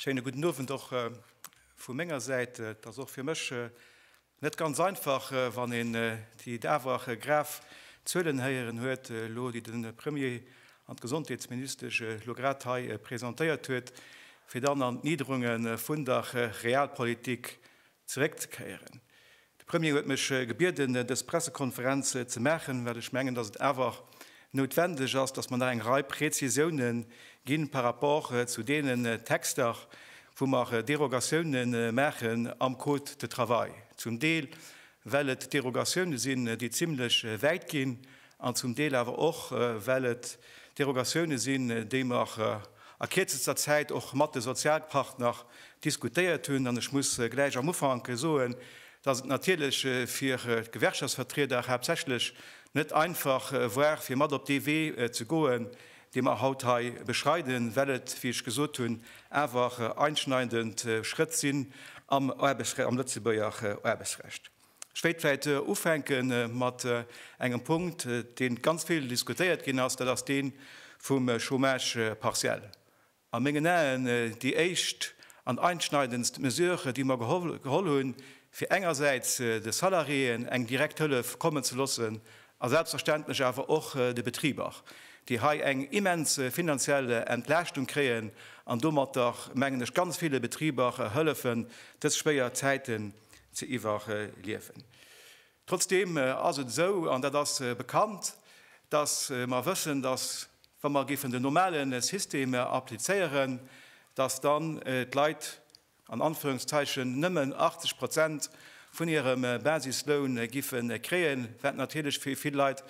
Schéine gudden Owend och äh, vu menger Säit. Äh, et ass och fir mech äh, net ganz einfach, äh, wann een äh, déi dawach äh, grav Zuelen héieren huet äh, elo, déi de Premier an d'Gesondheetsministesch äh, elo grad hei äh, presentéiert huet, fir dann an d'Niederunge vun der äh, Realpolitik zeréckzekéieren. De Premier huet mech gebieden, dës Pressekonferenz ze maachen, well ech mengen, dass et awer noutwendeg ass, dass mer nach eng Rei Präzisioune gi par rapport zu deenen Texter, wou mer Derogatioune maache am Code de travail, zum Deel well et Derogatioune sinn, déi zimlech wäit ginn. an zum Deel awer och well et Derogatioune sinn, déi mer a kierzester Zäit och mat de Sozialpartner diskutéiert hunn, an ech muss gläich am Ufank soen, datt et natierlech fir d'Gewerkschaftsvertrieder haaptsächlech net einfach war fir mat op dee Wee ze goen, dee mer haut hei beschreiden, well et, wéi ech gesot hunn, awer einschneidend Schrëtt sinn am Lëtzebuerger Aarbechtsrecht. Ech wéilt vläit ufänke mat engem Punkt, dee ganz vill diskutéiert ginn ass, dat ass dee vum Chômage partiel. A mengen Aen déi éischt an einschneidendst Mesure, déi mer geholl hunn, fir engersäits de Salariéen eng direkt Hëllef kommen ze loossen a selbstverständlech awer och de Betriber, déi hei eng immens finanziell Entlaaschtung kréien an domatter, mengen ech, ganz ville Betriber hëllefen, dës schwéier Zäiten ze iwwerliewen. Trotzdeem ass et esou, an dat ass bekannt, dass mer wëssen, dass, wa mer géifen den normalen System applizéieren, dass dann d'Leit an Anführungszeichen nëmmen 80 Prozent vun hirem Basisloun géife kréien, wat natierlech fir vill Leit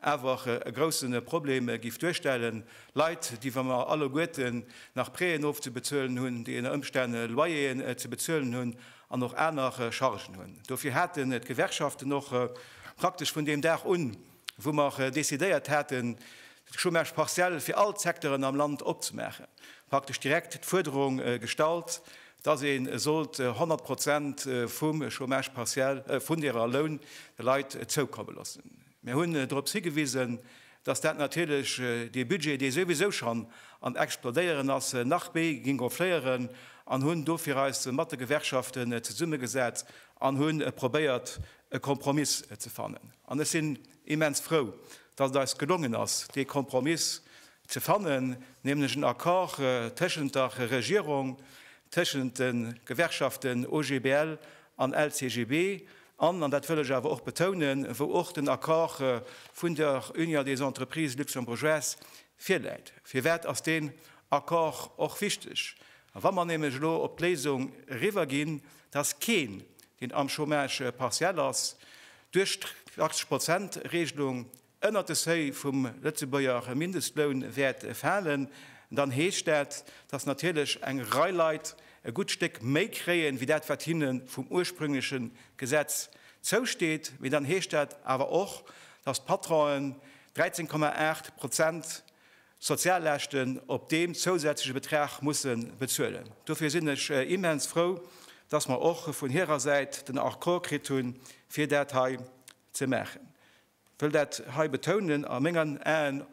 awer e grousse Problem géif duerstellen. Leit, déi, wa mer alleguerten nach Prêten ofzebezuelen hunn, déi ënner Ëmstänn Loyeren ze bezuelen hunn, an och aner Chargen hunn. Dofir haten d'Gewerkschaften och praktesch vun deem Dag un, wou mer decidéiert haten, de Chômage partiel fir all d'Secteuren am Land opzemaachen, praktesch direkt d'Fuerderung gestallt, dass ee sollt 100 Prozent vum Chômage partiel, vun deerer Loun de Leit zoukomme loossen. Mir hunn dorops higewisen, dass dat natierlech dee Budget, dee souwisou schonn am Explodéieren ass, nach méi géing gonfléieren an hunn dofir eis mat de Gewerkschaften zesummegesat an hu probéiert, e Kompromiss ze fannen. An ech sinn immens frou, dass et eis gelongen ass, dee Kompromiss ze fannen, nämlech en Accord tëschent der Regierung, tëschent de Gewerkschaften OGBL an LCGB, an, an dat wëll ech awer och betounen, wou och den Accord vun der Union des Entreprises luxembourgeoises virläit. Firwat ass deen Accord och wichteg? Wa mer nämlech elo op d'Léisung eriwerginn, dass keen, deen am Chômage partiel ass, duerch d'Achtzeg-Prozent-Regelung ënnert de Seuil vum Lëtzebuerger Mindestloun wäert falen, dann heescht dat, dass natierlech eng Rei Leit e gutt Stéck méi kréien, wéi dat wat hinne vum ursprüngleche Gesetz zousteet. Mee dann heescht dat awer och, dass d'Patronen 13, 8 Prozent Sozialleschten op deem zousätzleche Betrag musse bezuelen. Dofir sinn ech immens frou, dass mer och vun hirer Säit den Accord kritt hunn, fir dat hei ze maachen. wëll dat hei betounen, a mengen Aen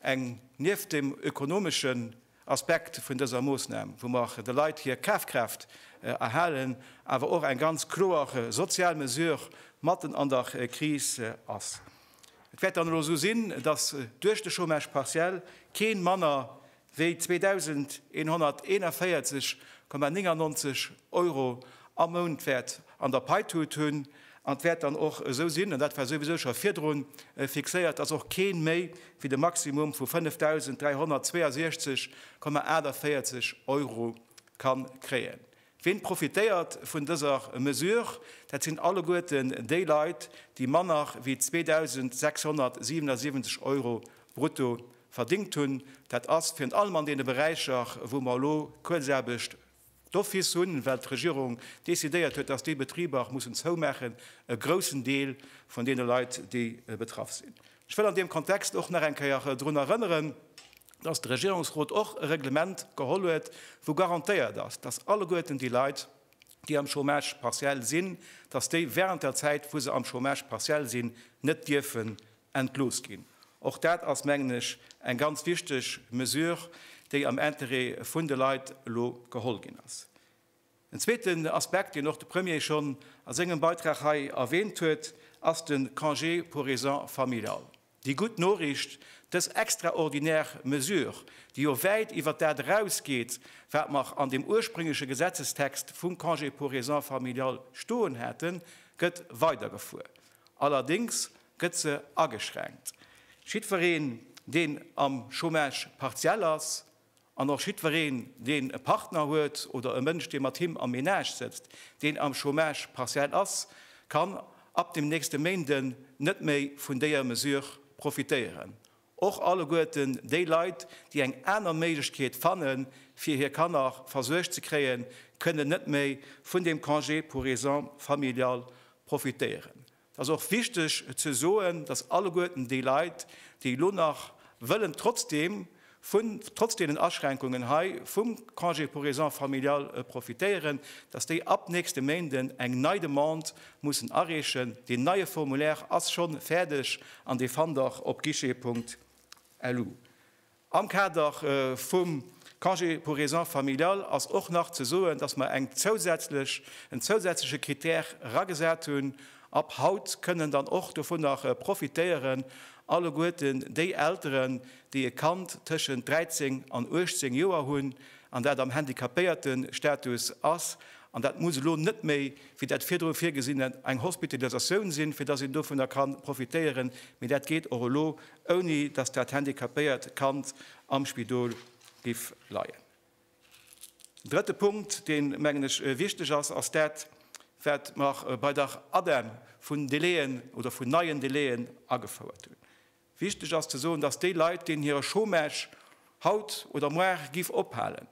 eng, nieft dem ökonomeschen Aspekt vun dëser Moosnam, wou mer de Leit hir Kafkraaft erhalen, awer och eng ganz kloer sozial Mesure matten an der Kris ass. Et wäert dann elo esou sinn, dass duerch de Chômage partiel kee manner Wéi 2.141,99 Euro am Mount wäert an der Pai tut hunn, an d'wäert dann och esou sinn, an dat war souwisou scho virdru fixéiert, dass och kee méi wéi de Maximum vu 5.362,48 Euro ka kréien. Ween profitéiert vun dëser Mesure? Dat sinn alleguerten déi Leit, déi manner wéi 2.677 Euro brutto verdingt hunn. Dat ass virun allem an deene Beräicher, wou mer elo Kuerzaarbecht d'office hunn, well d'Regierung decidéiert huet, dass déi Betriber mussen zoumaachen, e groussen Deel vun deene Leit, déi betraff sinn. Ech wëll an deem Kontext och nach eng Kéier drun erënneren, dass de Regierungsrot och e Reglement geholl huet, wou garantéiert ass, dass alleguerten déi Leit, déi am Chômage partiel sinn, dass déi während der Zäit, wou se am Chômage partiel sinn, net dierfen entlooss ginn. Och dat ass, mengen ech, eng ganz wichteg Mesure, déi am Intérêt vun de Leit elo geholl ginn ass. En zweeten Aspekt, deen och de Premier schonn a sengem Beitrag hei erwähnt huet, ass de Congé pour raisons familiales. Déi gutt Noriicht, Dës extraordinär Mesure, déi jo wäit iwwert dat erausgeet, wat mer an dem ursprüngleche Gesetzestext vum Congé pour raisons familiales stoen haten, gëtt weidergefuer. Allerdéngs gëtt se ageschränkt. Jiddwereen, deen am Chômage partiel ass, An och jiddwereen, deen e Partner huet oder e Mënsch, dee mat him am Menage sëtzt, deen am Chômage partiel ass, kann ab dem nächste Méinde net méi vun déier Mesure profitéieren. Och alleguerten déi Leit, déi eng aner Méiglechkeet fanne fir hir Kanner versuergt ze kréien, kënnen net méi vun dem Congé pour raisons familiales profitéieren. Et ass och wichteg ze soen, dass alleguerten déi Leit, déi elo nach wëllen trotzdeem vun, trotz deenen Aschränkungen hei, vum Congé pour raisons familiales profitéieren, dass déi ab nächste Méinden eng nei Demande mussen areechen. Deen neie Formulaire ass scho fäerdeg an dee fannt der op guichet.lu. Am Kader vum Congé pour raisons familiales ass och nach ze soen, dass mer eng zousätzlech, en zousätzleche Critère eragesat hunn, Ab haut kënnen dann och dovunner profitéieren alleguerten déi Elteren, déi e Kand tëschent 13 an 18 Joer hunn an dat am Handicapéiertestatus ass. An dat muss elo net méi, wéi dat virdru virgesinn, eng Hospitalisatioun sinn, fir dass een dovunner ka profitéieren, mee dat geet och elo. ouni datt dat handicapéiert Kand am Spidol giff leien. En drëtte Punkt, deen, mengen ech, wichteg ass, ass dat, wat mer bei der ADEM vun Délai'en oder vun neien Délai'en agefouert hunn. Wichteg ass ze soen, datt déi Leit, deenen hire Chômage haut oder moar giff ophalen,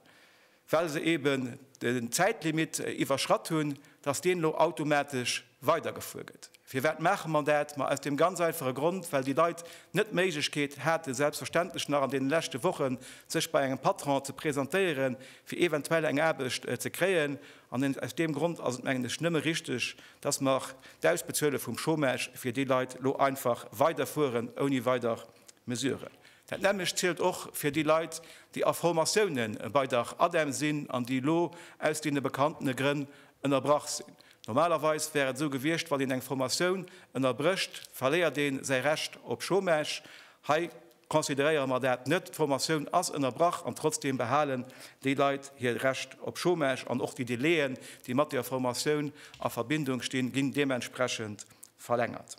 well se eben den Zäitlimitt iwwerschratt hunn, dass deen elo automatesch weidergefuer gëtt. Firwat maache mer dat? Ma aus deem ganz einfache Grond, well déi Leit net d'Méiglechkeet haten, selbstverständlech nach an deene leschte Wochen sech bei engem Patron ze presentéieren, fir eventuell eng Aarbecht ze kréien. An aus deem Grond ass et, mengen ech, nëmme richtig, dass mer d'Ausbezuele vum Chômage fir déi Leit elo einfach weiderfueren, ouni weider Mesuren. Dat nämmlecht zielt och fir déi Leit, déi a Formatioune bei der ADEM sinn an déi elo aus deene bekanntene Grënn ënnerbrach sinn. Normalerweis wär et esou gewiescht, wann een eng Formatioun ënnerbrécht, verléiert ee säi Recht op Chômage. Hei consideréiere mer dat net. D'Formatioun ass ënnerbrach an trotzdeem behalen déi Leit hir Recht op Chômage an och déi Delaien, déi mat der Formatioun a Verbindung stinn, ginn deementsprechend verlängert.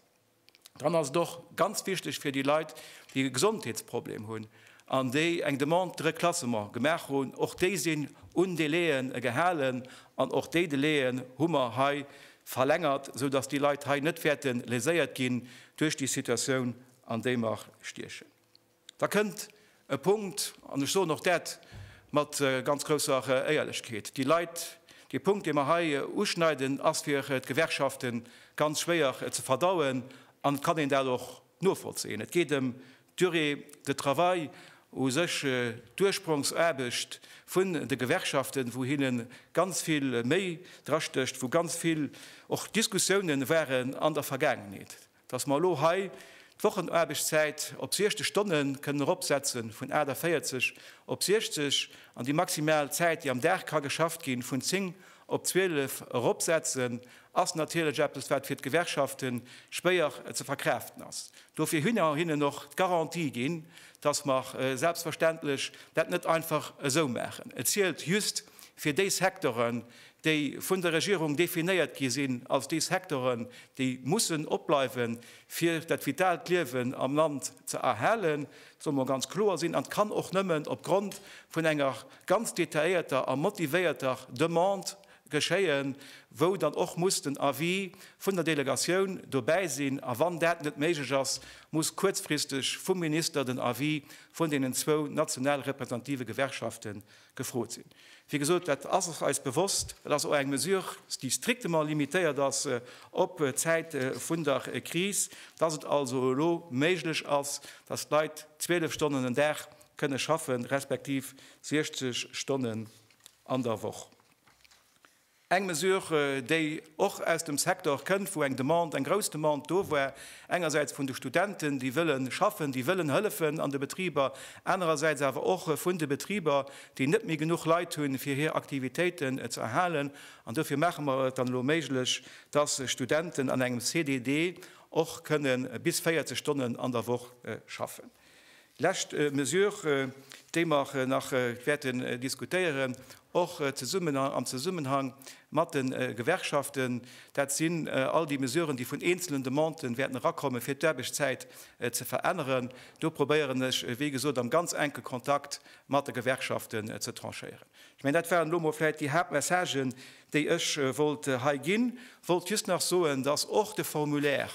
Dann ass et och ganz wichteg fir déi Leit, déi e Gesondheetsproblem hunn an déi eng Demande de reclassement gemaach hunn, och déi sinn un Délai'en gehalen an och déi Délai'en hu mer hei verlängert, esou dass déi Leit hei net wäerte léséiert ginn duerch déi Situatioun, an déi mer stiechen. Da kënnt e Punkt, an ech soen och dat mat ganz grousser Éierlechkeet, déi Leit, dee Punkt, dee mer hei uschneiden, ass fir d'Gewerkschafte ganz schwéier ze verdauen, an et kann een dat och novollzéien. Et geet ëm d'Durée de travail u sech, d'Ursprongsaarbecht vun de Gewerkschaften, wou hinne ganz vill Méi drastécht, wou ganz vill och Diskussioune waren an der Vergaangenheet. Dass mer elo hei d'Wochenaarbechtszäit op 60 Stonne kënnen eropsetze vun 48 op 60 an déi maximal Zäit, déi am Dag ka geschafft ginn, vun 10 op 12 eropsetzen, ass natierlech eppes, wat fir d'Gewerkschafte schwéier ze verkraaften ass. Dofir hu mer hinnen och d'Garantie ginn, dass mer selbstverständlech dat net einfach esou maachen. Et zielt just fir déi Secteuren, déi vun der Regierung definéiert gi sinn als déi Sektoren, déi mussen opbleiwen, fir dat vitalt Liewen am Land ze erhalen, dat soll mol ganz kloer sinn, an dat kann och nëmmen opgrond vun enger ganz detailléierter a motivéierter Demande geschéien, wou dann och muss den Avis vun der Delegatioun dobäi sinn, a wann dat net méiglech ass, muss kuerzfristeg vum Minister den Avis vun deenen zwou national repräsentative Gewerkschaften Gefrot sinn. Wéi gesot, dat ass eis bewosst. Dat ass och eng Mesure, déi strictement limitéiert ass op d'Zäit vun der Kris, dass et also elo méiglech ass, dass d'Leit 12 Stonnen den Dag kënne schaffen, respektiv 60 Stonnen an der Woch. Eng Mesure, déi och aus dem Secteur kënnt, wou eng Demande, eng grouss Demande do war, engersäits vun de Studenten, déi wëlle schaffen, déi wëllen hëllefen an de Betriber, anerersäits awer och vun de Betriber, déi net méi genuch Leit hunn, fir hir Aktivitéiten ze erhalen. An dofir maache mer et dann elo méiglech, dass Studenten an engem CDD och kënnen bis 40 Stonnen an der Woch schaffen. Lescht Mesure, déi mer nach wäerten diskutéieren, och zesummen am Zesummenhang mat de Gewerkschaften, dat sinn all déi Mesuren, déi vun eenzelen Demanden wäerten erakommen, fir d'Aarbechtszäit ze veränneren. Do probéieren ech, wéi gesot, am ganz enke Kontakt mat de Gewerkschaften ze tranchéieren. Ech mengen, dat waren elo emol vläicht déi Haaptmessagen, déi ech wollt hei ginn. Wollt just nach soen, dass och de Formulaire,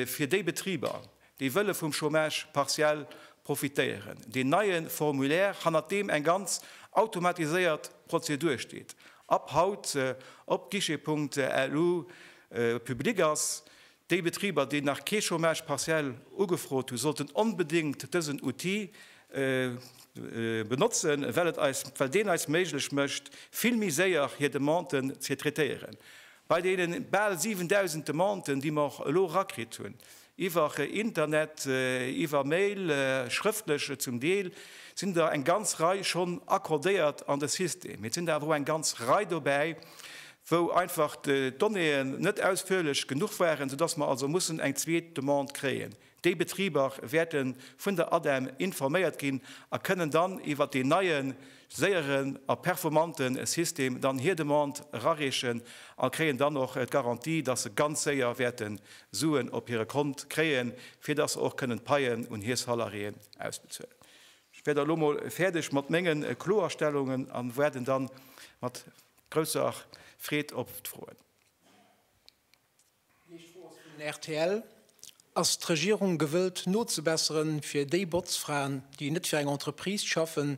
fir déi Betriber, déi wëlle vum Chômage partiel profitéieren, deen neie Formulaire, hannert deem eng ganz automatiséiert Prozedur steet, ab haut op guichet.lu public ass. Déi Betriber, déi nach kee Chômage partiel ugefrot hunn, sollten onbedéngt dësen Outil benotzen, well deen eis méiglech mécht, vill méi séier hir Demanden ze traitéieren. Bei deenen bal 7.000 Demanden, déi mer elo erakritt hunn, iwwer Internet, iwwer Mail, schrëftlech zum Deel, sinn der eng ganz Rei schonn accordéiert an de System. Et sinn der awer och eng ganz Rei dobäi, wou einfach d'Donnéeën net ausführlech genuch waren, soudass mer also mussen eng zweet Demande kréien. Déi Betriber wäerte vun der ADEM informéiert ginn a kënnen dann iwwert deen neien, séieren a performante System dann hir Demande erareechen a kréien dann och d'Garantie, dass se ganz séier wäerte Suen op hire Kont kréien, fir dass se och kënnen d'Paien un hir Salariéen ausbezuelen. Ech wär da lo mol fäerdeg mat menge Kloerstellungen a waarden da mat grousser Freed op d'Froen. Déi éischt Fro ass vun rtl, Ass d'Regierung gewëllt nozebesseren fir déi Botzfraen, déi net fir eng Entreprise schaffen,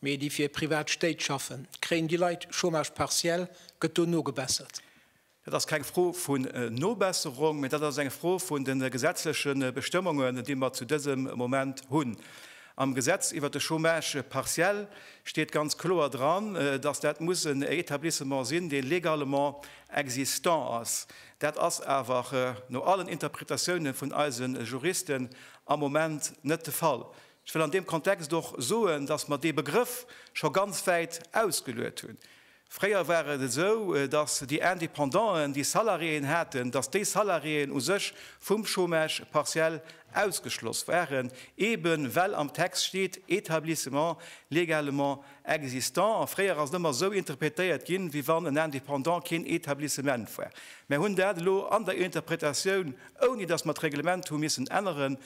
mee déi fir privat Stéit schaffen? Kréien déi Leit Chômage partiel? Gëtt do nogebessert? Dat ass keng Fro vun Nobesserung, mee dat ass eng Fro vun de gesetzleche Bestëmmungen, déi mer zu dësem Moment hunn. Am Gesetz iwwert de Chômage partiel steet ganz kloer dran, datt dat muss en Etablissement sinn, dee légalement Existant ass. Dat ass awer no allen Interpretatiounen vun eise Juristen am Moment net de Fall. Ech wëll an deem Kontext och soen, dass mer dee Begrëff scho ganz wäit ausgeluet hunn. Fréier war et esou, dass déi Independanten, déi Salariéen haten, dass déi Salariéen u sech vum Chômage partiel ausgeschloss waren, eeben well am Text steet, établissements légalement Existant, a fréier ass en ëmmer esou interpretéiert ginn, wéi wann en Indépendant keen Etablissement war. Mer hunn dat elo an der Interpretatioun, ouni dass mer d'Reglement hu missen änneren,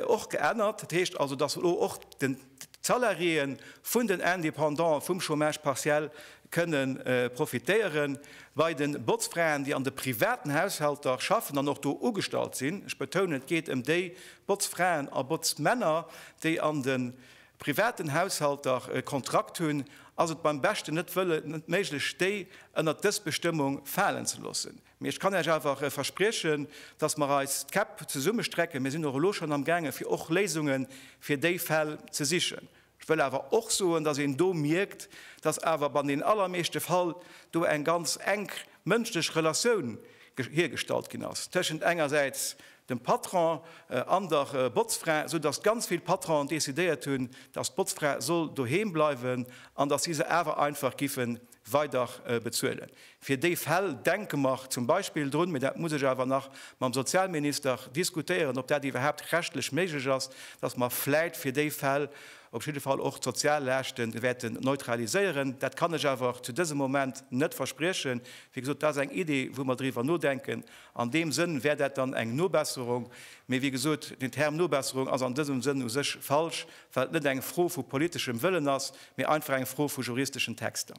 och geännert. Dat heescht also, dass elo och d'Salariéeë vun den Indépendantë vum Chômage partiel kënne profitéieren. Bei de Botzfraen, déi an de privaten Haushalter schaffen an och do ugestallt sinn, ech betounen, et geet ëm déi Botzfraen a Botzmänner, déi an de privaten Haushalter e Kontrakt hunn, ass et beim beschten net wëllen net méiglech, déi ënnert dës Bestëmmung falen ze loossen. Mee ech kann Iech awer verspriechen, dass mer eis d'Käpp zesummestrecken. Mir sinn och elo schonn amgaange fir och Léisunge fir déi Fäll ze sichen. Ech wëll awer och soen, dass een do mierkt, dass awer an den allermeeschte Fall do eng ganz enk mënschlech Relatioun hiergestallt ginn ass tëschent engersäits dem Patron an der Botzfra, sou datt ganz vill Patronen decidéiert hunn, datt d'Botzfra soll doheem bleiwen an datt si se awer einfach giffe weider bezuelen. Fir déi Fäll denke mer zum Beispill drun, mä dat muss ech awer nach mam Sozialminister diskutéieren, ob dat iwwerhaapt rechtlech méiglech ass, datt mer vläit fir déi Fäll, op jidde Fall och d'Soziallaaschte wäerten neutraliséieren. Dat kann ech awer zu dësem Moment net verspriechen. Wéi gesot, dat ass eng Iddi, wou mer driwwer nodenken. An deem Sënn wär dat dann eng Nobesserung. Mee wéi gesot, den Term Nobesserung ass an dësem Sënn u sech falsch, well et net eng Fro vu politeschem Wëllen ass, mee einfach eng Fro vu juristeschen Texter.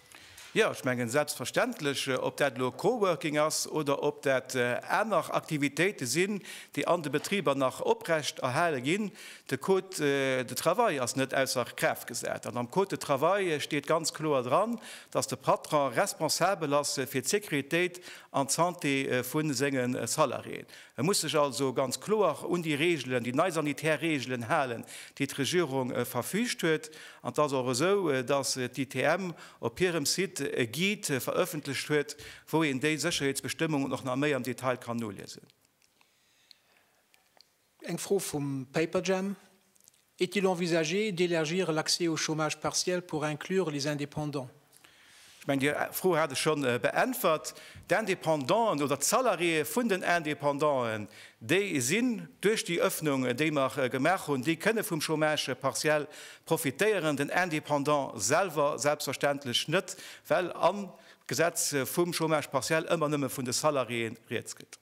Jo, ech mengen selbstverständlech, ob dat elo Coworking ass oder ob dat aner Aktivitéite sinn, déi an de Betriber nach oprecht erhale ginn. De Code de travail ass net ausser Kraaft gesat an am Code de travail steet ganz kloer dran, dass de Patron responsabel ass fir d'Sécuritéit an d'Santé vu senge Salariéen. E muss sech also ganz kloer un déi Reegelen, déi nei sanitär Reegelen halen, déi d'Regierung verfügt huet. An et ass och esou, datt d'ITM op hirem Site e Guide verëffentlecht huet, wou een déi Sécherheetsbestëmmungen och nach méi am Detail kann noliesen. Eng Fro vum Paperjam, Est-il envisagé d'élargir l'accès au chômage partiel pour inclure les indépendants? Ech mengen, déi Fro hat ech scho beäntwert. D'Indépendanten oder d'Salariéeë vun den Indépendanten, déi sinn duerch déi Öffnung, déi mer gemaach hunn, déi kënne vum Chômage partiel profitéieren, den Indépendant selwer selbstverständlech net, well am Gesetz vum Chômage partiel ëmmer nëmme vun de Salariéeë rieds geet.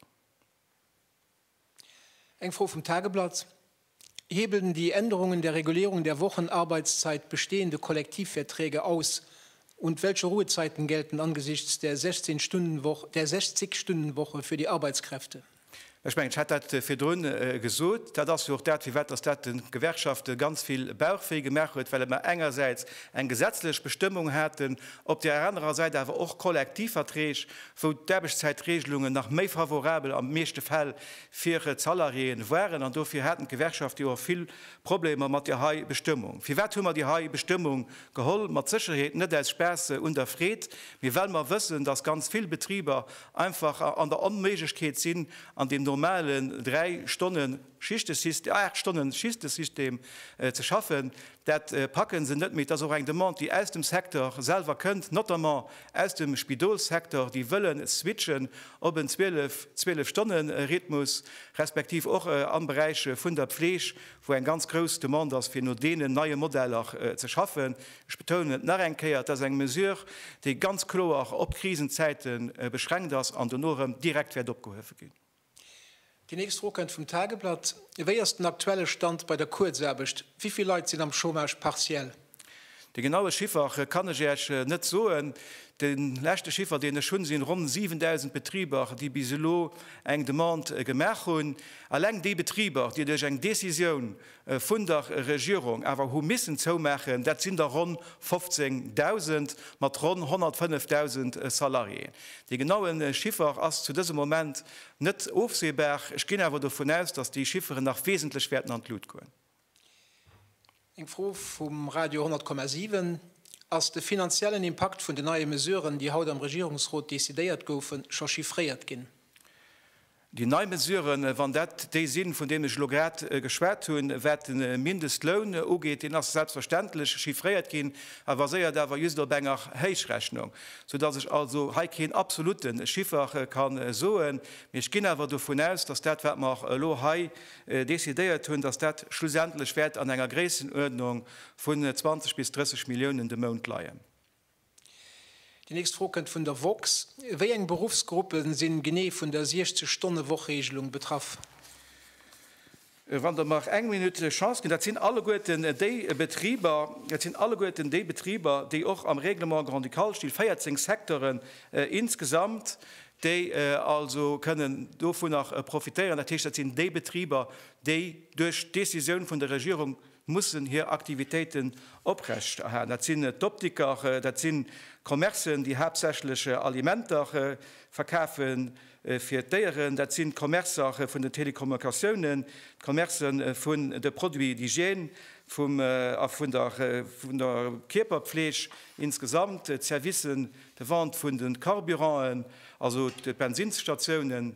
Eng Fro vum Tageblatt, Hebeln die Änderungen der Regulierung der Wochenarbeitszeit bestehende Kollektivverträge aus und welche Ruhezeiten gelten angesichts der 16 Stunden Woche, der 60 Stunden Woche für die Arbeitskräfte? Ech mengen, ech hat dat virdrun gesot, dat ass jo och dat, firwat dass dat de Gewerkschafte ganz vill Bauchwéi gemaach huet, well mer engersäits eng gesetzlech Bestëmmung haten, op där anerer Säit awer och Kollektivverträg, wou d'Aarbechtszäitreegelungen nach méi favorabel an de meeschte Fäll fir d'Salariéeën waren, an dofir haten d'Gewerkschafte jo och vill Problemer mat där hei Bestëmmung. Firwat hu mer déi hei Bestëmmung geholl? Mat Sécherheet net aus Spaass un der Freed, mee well mer wëssen, dass ganz vill Betriber einfach an der Onméiglechkeet sinn, an deem normalen dräi Stonnen, Schichtesystem, aacht Stonne Schistesystem ze schaffen, dat packe se net méi. Et ass och eng Demande, déi aus dem Secteur selwer kënnt, notamment aus dem Spidolssecteur, déi wëlle switchen op en zwielef, zwielef Stonne Rhythmus, respektiv och am Beräich vun der Pfleg, wou eng ganz grouss Demande ass, fir no deenen neie Modeller ze schaffen. Ech betounen et nach eng Kéier, et ass eng Mesure, déi ganz kloer op Krisenzäite beschränkt ass an dono erëm direkt wäert opgehuewe ginn. Déi nächst Fro kënnt vum Tageblatt, Wéi ass den aktuelle Stand bei der Kuerzaarbecht? Wéi vill Leit sinn am Chômage partiel? De genaue Chiffer kann ech Iech net soen. De leschte Chiffer, deen ech hunn, sinn ronn 7.000 Betriber, déi bis elo eng Demande gemaach hunn. Alleng déi Betriber, déi duerch eng Decisioun vun der Regierung awer hu missen zoumaachen, dat sinn der ronn 15.000 mat ronn 105.000 Salariéen. Dee genaue Chiffer ass zu dësem Moment net ofsehbar. Ech ginn awer dovun aus, datt déi Chifferen nach wesentlech wäerten an d'Lut goen. Eng Fro vum Radio 10,7, Ass de finanziellen Impakt vun den neie Mesuren, déi haut am Regierungsrot decidéiert goufen, scho chiffréiert ginn? Déi nei Mesuren, wann dat déi sinn, vun deenen ech elo grad geschwat hunn, wat de Mindestloun ugeet, deen ass selbstverständlech chiffréiert ginn, e baséiert awer just op enger Héichrechnung, soudass ech also hei keen absolute Chiffer ka soen. Mee ech ginn awer dovun aus, dass dat, wat mer elo hei decidéiert hunn, dass dat schlussendlech wäert an enger Gréissenuerdnung vun 20 bis 30 Milliounen de Mount leien. Déi nächst Fro kënnt vun der woxx. Wéi eng Beruffsgruppe sinn genee vun der 60 Stonne Woch-Reegelung betraff? Wann Der mer eng Minutt Chance ginn, dat sinn alleguerten déi Betriber, dat sinn alleguerten déi Betriber, déi och am Règlement grand-ducal stinn, 14 Secteuren insgesamt, déi also kënnen dovunner profitéieren. Dat heescht, dat sinn déi Betriber, déi duerch d'Décisioun vun der Regierung mussen hir Aktivitéiten oprecht erhalen. Dat sinn d'Optiker, dat si Commercen, déi haaptsächlech Alimenter verkafe fir d'Déieren, dat sinn d'Commercer vun den Telekommunikatiounen, d'Commerce vun de Produits d'hygiène a vun der Kierperpfleeg insgesamt, d'Services de vente vun de Carburanten, also d'Bensinsstatiounen.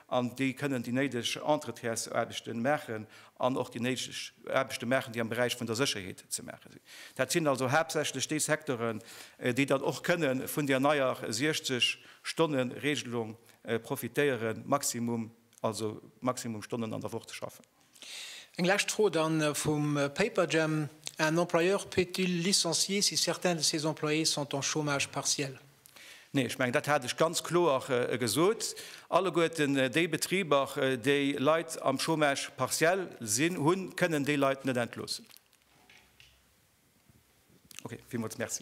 an déi kënnen déi néideg Entretiers-Aarbechte maachen an och déi néideg Aarbechte maachen, déi am Beräich vun der Sécherheet ze maache sinn. Dat sinn also haaptsächlech déi Secteuren, déi dann och kënne vun där neier 60 Stonnen-Regelung profitéieren, Maximum, also Maximum Stonnen an der Woch ze schaffen. Eng lescht Fro dann vum Paperjam, Un employeur peut-il licencier si certains de ses employés sont en chômage partiel? Nee, ech mengen, dat hat ech ganz kloer gesot. Alleguerten déi Betriber, déi Leit am Chômage partiel sinn, hunn, kënnen déi Leit net entloossen. Ok, villmools Merci.